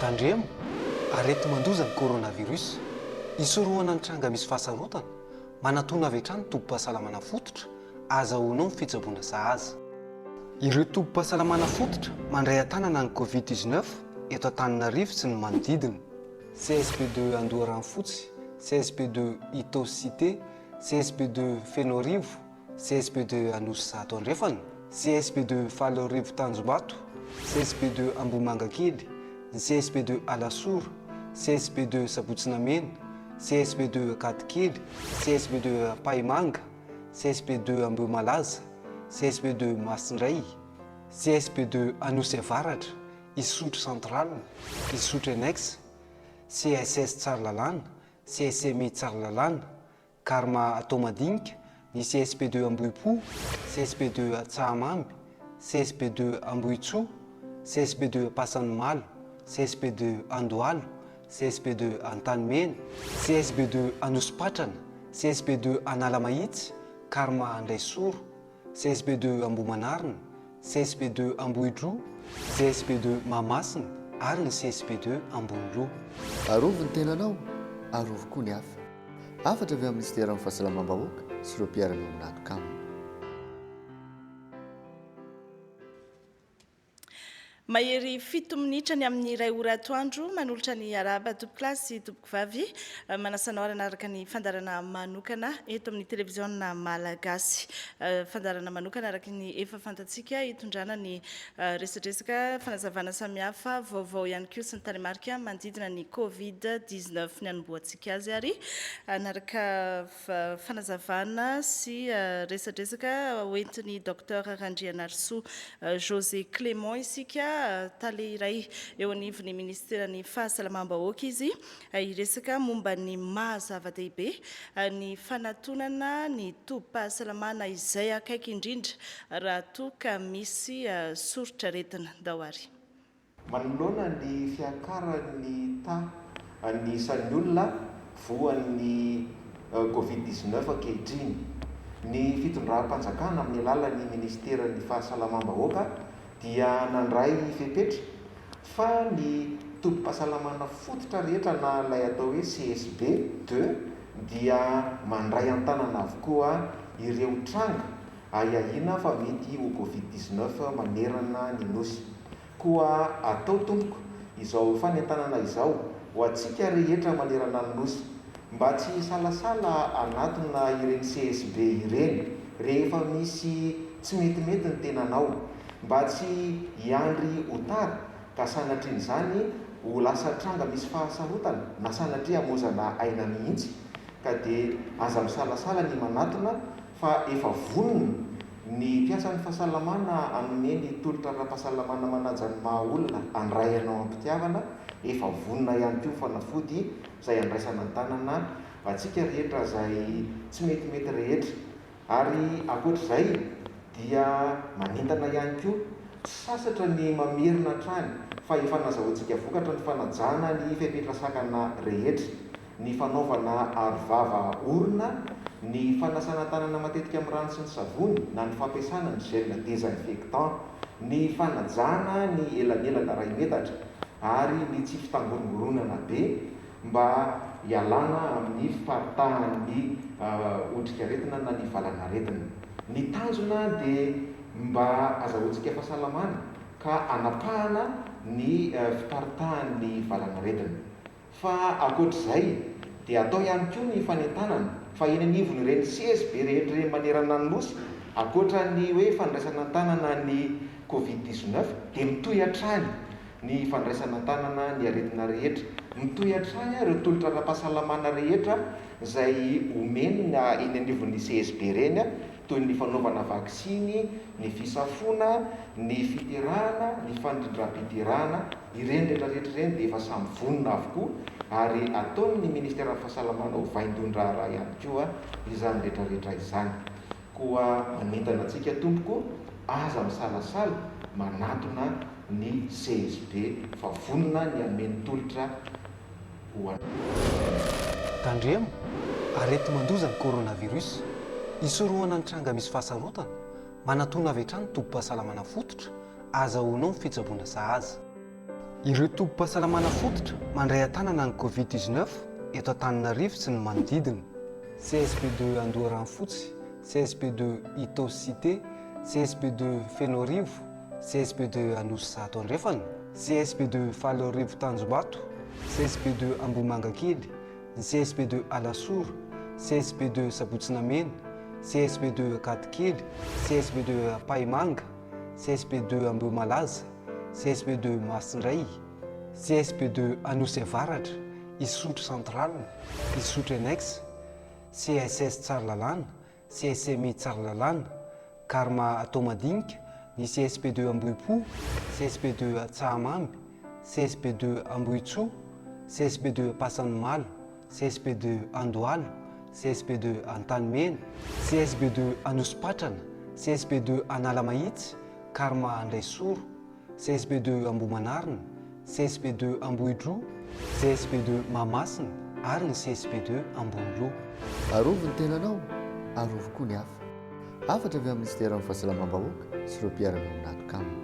Tandremo, areti-mandoza ny coronavirus. Hisorohana ny tranga misy fahasarotana, manatona avy hatrany ny tobim-pahasalamana fototra, ahazahoanao ny fitsaboana sahaza. Ireo tobim-pahasalamana fototra mandray an-tanana ny Covid dix-neuf eto Antananarivo sy ny manodidina. CSP de Andoharanofotsy, CSP de Itaosy Cité, CSP de Fenoarivo, CSP de Anosizato Andrefana, CSP de Faloarivo Tanjombato, CSP de Ambohimangakely, ny CSP de Alasora, CSP de Sabotsinamena, CSP de Ankadikely, CSP de Ampahimanga, CSP de Ambohimalaza, CSP de Masindray, CSP de Anosiavaratra, Isotry Central, Isotry Enex, CSS Tsaralalana, CSMI Tsaralalana, Karma Taomadinika, ny CSP deux Ambohipo, CSP deux Tsahamamby, CSP deux Ambohitsoa, CSP deux Ampasanimalo, CSP deux Andohalo, CSP deux Antanimena, CSP deux Anosipatrana, CSP deux Analamahitsy, Karma Andraisoro, CSP de Ambohimanarina, CSP de Ambohidroa, CSP de Mahamasina ary ny CSP de Amboniloha. Arovy ny tenanao, arovy koa ny hafa. Hafatra avy amin'ny Minisiteran'ny Fahasalamam-bahoaka sy ireo mpiara-miombon'antoka aminy. Mahery fito minitra ny amin'ny iray ora atoandro. Manolotra ny arahaba tompoko lahy sy tompoko vavy eh, manasanao aranaraka ny fandarana manokana eto amin'ny televiziona malagasy. Eh, fandarana manokana araka ny efa fantatsika hitondrana ny eh, resadresaka fanazavana samihafa, vaovao ihany koa sy ny taremarika manodidina ny Covid-19 ny anombohantsika azy ary anaraka fanazavana sy resadresaka hoentin'i Docteur Randrianarisoa José Clément isika, tale iray eo anivon'ny Minisiteran'ny Fahasalamam-bahoaka izy, hiresaka momba ny maha zava-dehibe ny fanatonana ny tobim-pahasalamana izay akaiky indrindra raha toa ka misy soritr'aretina. Ndao ary. Manoloana ny fiakaran'ny taha an'ny isan'ny olona voan'ny Covid dix-neuf ankehitriny, ny fitondram-panjakana amin'ny alalan'ny minisiteran'ny Fahasalamam-bahoaka dia nandray fepetra fa ny tobim-pahasalamana fototra rehetra na ilay atao hoe CSB deux dia mandray an-tanana avokoa ireo tranga ahiahiana fa mety ho Covid dix neuf manerana ny Nosy. Koa atao tompoko izao fanentanana izao ho antsika rehetra manerana ny Nosy, mba tsy hisalasala hanatona ireny CSB ireny rehefa misy tsy metimety ny tenanao, mba tsy hiandry ho tara ka sanatrian'izany ho lasa tranga misy fahasarotana na sanatria hamozana aina mihitsy, ka dia aza misalasala ny manatona fa efa vonona ny mpiasan'ny fahasalamana hanome ny tolotra ara-pahasalamana manaja ny maha-olona handray anao am-pitiavana, efa vonona ihany koa ny fanafody izay handraisana an-tanana antsika rehetra izay tsy metimety rehetra. Ary ankoatra izay dia manentana ihany koa, tsy sasatra ny mamerina hatrany fa efa nazahoantsika vokatra ny fanajana ny fepetra sakana rehetra. ny fanaovana arovava orona, ny fanasana tanana matetika amin'ny rano sy ny savony na ny fampiasana ny gel désinfectant, ny fanajana ny elanelana iray metatra ary ny tsy fitangorongoronana be mba hialana amin'ny fiparitahan'ny otrikaretina na ny valanaretina. Ny tanjona dia mba azahoantsika fahasalamana ka hanapahana ny fiparitahan'ny valanaretina. Fa ankoatra izay dia atao ihany koa ny fanentanana fa eny anivon'ireny sezy be rehetra ireny manerana ny Nosy, ankoatra ny hoe fandraisana an-tanana ny covid dix-neuf dia mitohy hatrany ny fandraisana an-tanana ny aretina rehetra, mitohy hatrany ireo tolotra ara-pahasalamana rehetra izay omena eny anivon'ny sezy be ireny toy ny fanaovana vaksiny, ny fisafoana, ny fiterahana, ny fanrindram-piderana. Ireny rehetra rehetra ireny dia efa samy vonona avokoa ary ataon'ny Ministeran'ny Fahasalamana ho vaindohan-draharaha ihany koa izany rehetra rehetra izany. Koa manentana antsika Tompoko, aza misalasala manatona ny CSB fa vonona ny hameno tolotra ho anareo. Tandremo, areti-mandoza ny coronavirus. Hisorohana ny tranga misy fahasarotana, manatona avy hatrany tobim-pahasalamana fototra Azahoanao ny fitsaboana sahaza. Ireo tobim-pahasalamana fototra mandray an-tanana ny Covid dix neuf eto Antananarivo sy ny manodidina, CSP de Andoharanofotsy, CSP de Itaosy Cité, CSP de Fenoarivo, CSP de Anosizato Andrefana, CSP de Faloarivo Tanjombato, CSP de Ambohimangakely, ny CSP de Alasora, CSP de Sabotsinamena, CSP de Ankadikely, CSP de Ampahimanga, CSP deux Ambohimalaza, CSP deux Masindray, CSP deux Anosy Avaratra, Isotry Central, Isotry Annexe, CSS Tsaralalàna, CSMI Tsaralalàna, Karma Toamadinika, ny CSP deux Ambohipo, CSP deux Tsahamamy, CSP deux Ambohitsoa, CSP deux Ampasanimalo, CSP de Andohalo, CSP de Antanimena, CSP de Anosipatrana, CSP de Analamahitsy, Karma Andraisoro, CSP de Ambohimanarina, CSP de Ambohidroa, CSP de Mahamasina ary ny CSP de Amboniloha. Arovy ny tenanao, arovy koa ny hafa. Hafatra avy amin'ny Minisiteran'ny Fahasalamam-bahoaka sy ireo mpiara-miombon'antoka aminy.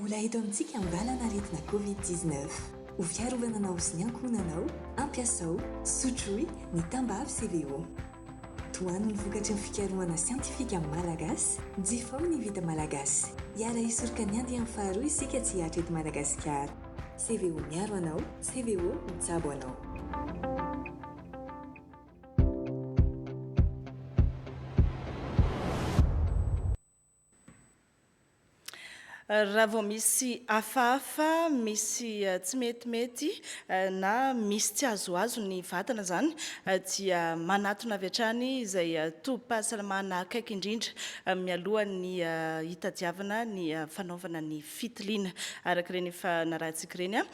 Mbola eto amintsika ambalana aretina covid dix neuf. Ho fiarovana anao sy ny ankohonanao, ampiasao, sotroy, ny tambavy CVO. Tohano ny vokatry ny fikarohana siantifika malagasy, jifaho ny vita malagasy. Hiara-hisoroka ny andiany faharoa isika tsy hihatra eto Madagasikara. CVO miaro anao, CVO mitsabo anao. Raha vao misy hafahafa, misy eh, tsy metimety eh, na misy tsy azoazo ny vatana izany eh, dia manatona avy hatrany izay eh, tobim-pahasalamana akaiky indrindra eh, mialohan'ny eh, hitadiavana ny eh, fanaovana ny fitiliana araka ireny efa narahantsika ireny. ah.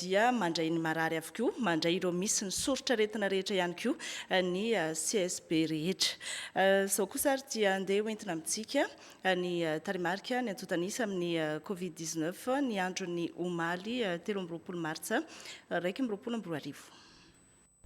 dia mandray ny marary avokoa, mandray ireo misy ny soritr'aretina rehetra ihany koa ny CSB rehetra. Izao kosa ary dia andeha ho entina amintsika ny tarehimarika ny antontan'isa amin'ny Covid 19 ny andron'ny omaly telo amby roapolo martsa iraika amby roapolo amby roa arivo.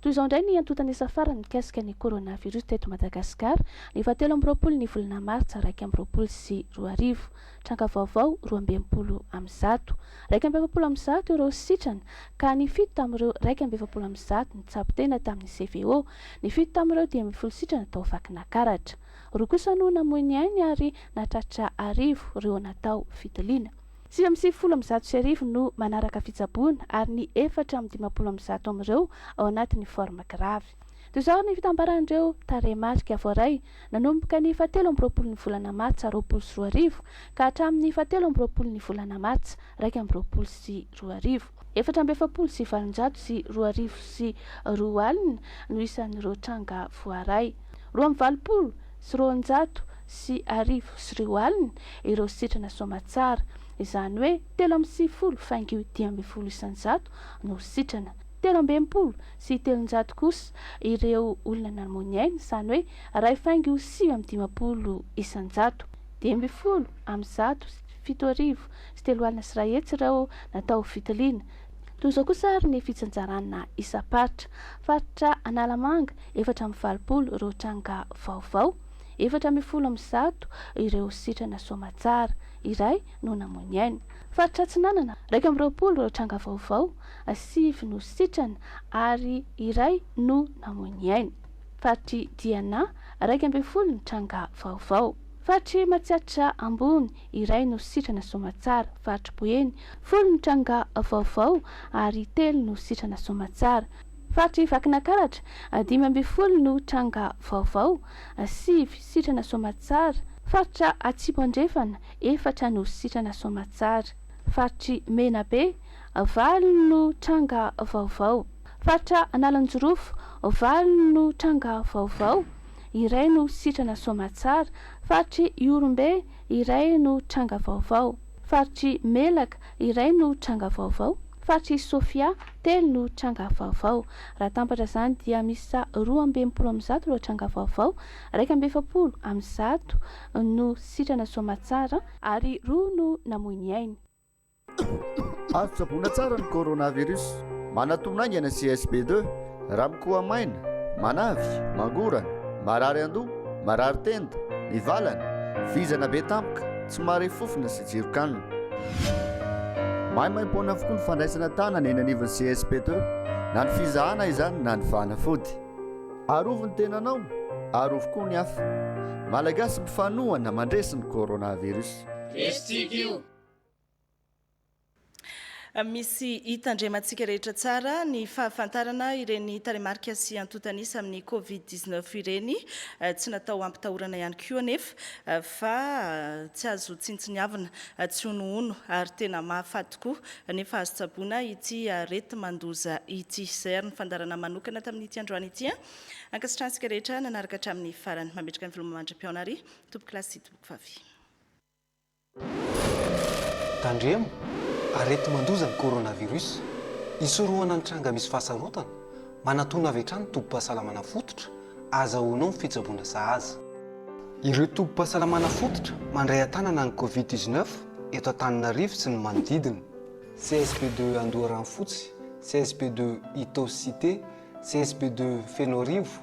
Toy izao indray ny antontan'isa farany mikasika ny coronavirus teto Madagasikara, ny fahatelo amby roapolo ny volana martsa iraika amby roapolo sy roa arivo. Tranga vaovao, roa amby enimpolo amin'ny zato. Iraika amby efapolo amin'ny zato ireo sitrana, ka ny fito tamin'ireo iraika amby efapolo amin'ny zato nitsabo tena tamin'ny CVO. Ny fito tamin'ireo dimy ambin'ny folo sitrana tao Vakinakaratra. Roa kosa no namoy ny ainy ary nahatratra arivo ireo natao fitiliana. Sivy amby sivifolo amby zato sy arivo no manaraka fitsaboana ary ny efatra amby dimampolo amby zato amin'ireo ao anatin'ny forme grave. Toy izao ary ny fitambaran'ireo tarehimarika voaray, nanomboka ny fahatelo amby roapolon'ny volana martsa roapolo sy roa arivo ka hatramin'ny fahatelo amby roapolon'ny volana martsa iraika amby roapolo sy roa arivo. Efatra amby efapolo sy valonjato sy roa arivo sy roa alina no isan'ireo tranga voaray. Roa amby valopolo. sy roanjato sy arivo sy roa alina ireo sitrana soamatsara, izany hoe telo amby sivifolo faingo io dimy ambin'ny folo isanjato no sitrana, telo amby enimpolo sy telonjato kosa ireo olona nanmony aina, izany hoe iray faingo sivy amby dimampolo isanjato, dimy ambin'ny folo amby zato sy fito arivo sy telo alina sy iray hetsy ireo natao ho fitiliana. Toy izao kosa ary ny fitsinjarana isam-paritra. Faritra Analamanga, efatra amby valopolo ireo tranga vaovao, efatra ambin'ny folo amin'ny zato ireo sitrana soamatsara, iray no namoy ny ainy. Faritra Atsinanana, iraika amby roapolo ireo tranga vaovao, sivy no sitrana ary iray no namoy ny ainy. Faritr'i Diana, iraika ambin'ny folo ny tranga vaovao. Faritr'i Matsiatra Ambony, iray no sitrana soamantsara, faritry Boeny, folo ny tranga vaovao ary telo no sitrana soamantsara, faritry Vakinankaratra, dimy ambin'ny folo no tranga vaovao, sivy sitrana soamantsara, faritra Atsimo Andrefana, efatra no sitrana soamantsara, faritry Menabe, valo no tranga vaovao, faritra Analanjirofo, valo no tranga vaovao, iray no sitrana soamantsara, faritry Ihorombe, iray no tranga vaovao, faritr'i Melaka, iray no tranga vaovao, faritr'i Sofia, telo no tranga vaovao. Raha tampatra izany dia miisa roa amby enimpolo amin'ny zato ireo tranga vaovao, iraika amby efapolo amin'ny zato no sitrana soamatsara, ary roa no namoy ny ainy. Azo tsaboina tsara ny coronavirus. Manatona haingana CSB deux. Raha mikoha maina, manavy, mangorana, marary an-doha, marary tenda, mivalana, vizana be tampoka, tsy mahare fofona sy tsiron-kanina. Maimaimpoana avokoa ny fandraisana tanana eny anivon'ny CSB deux, na ny fizahana izany na ny fanafody. Arovy ny tenanao, arovy koa ny hafa. Malagasy mifanohana mandresy ny coronavirus. Misy tsika io. Misy hitandremantsika rehetra tsara ny fahafantarana ireny tarehimarika sy antontanisa amin'ny Covid 19 ireny. Eh, tsy natao hampitahorana ihany koa anefa eh, fa eh, tsy azo tsintsiniavina, tsy honohono ary tena mahafaty tokoa nefa azo tsaboina ity areti-mandoza ity. Izay ary ny fandarana manokana tamin'ity androany ity. Ankasitrahantsika rehetra nanaraka hatramin'ny farany. Mametraka ny veloma mandra-pihaona ary tompoklasy sy tompokvavy. Tandremo, areti-mandoza ny coronavirus. Hisorohana ny tranga misy fahasarotana, manatona avy hatrany ny tobim-pahasalamana fototra, ahazahoanao ny fitsaboana sahaza. Ireo tobim-pahasalamana fototra mandray an-tanana ny Covid dix-neuf eto Antananarivo sy ny manodidina, CSP de Andoharanofotsy, CSP de Itaosy Cité, CSP de Fenoarivo,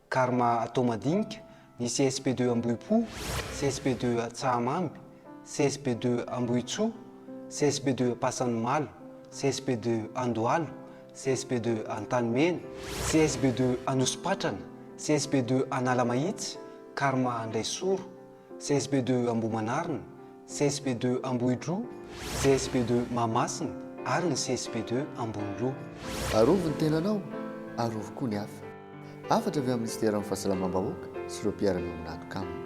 Karma atao madinika, ny CSP de Ambohipo, CSP de Tsahamamby, CSP de Ambohitsoa, CSP de Ampasanimalo, CSP de Andohalo, CSP de Antanimena, CSP de Anosipatrana, CSP de Analamahitsy, Karma Andraisoro, CSP de Ambohimanarina, CSP de Ambohidroa, CSP de Mahamasina ary ny CSP de Amboniloha. Arovy ny tenanao, arovy koa ny hafa. Hafatra avy amin'ny Minisiteran'ny Fahasalamam-bahoaka sy ireo mpiara-miombona antoka aminy.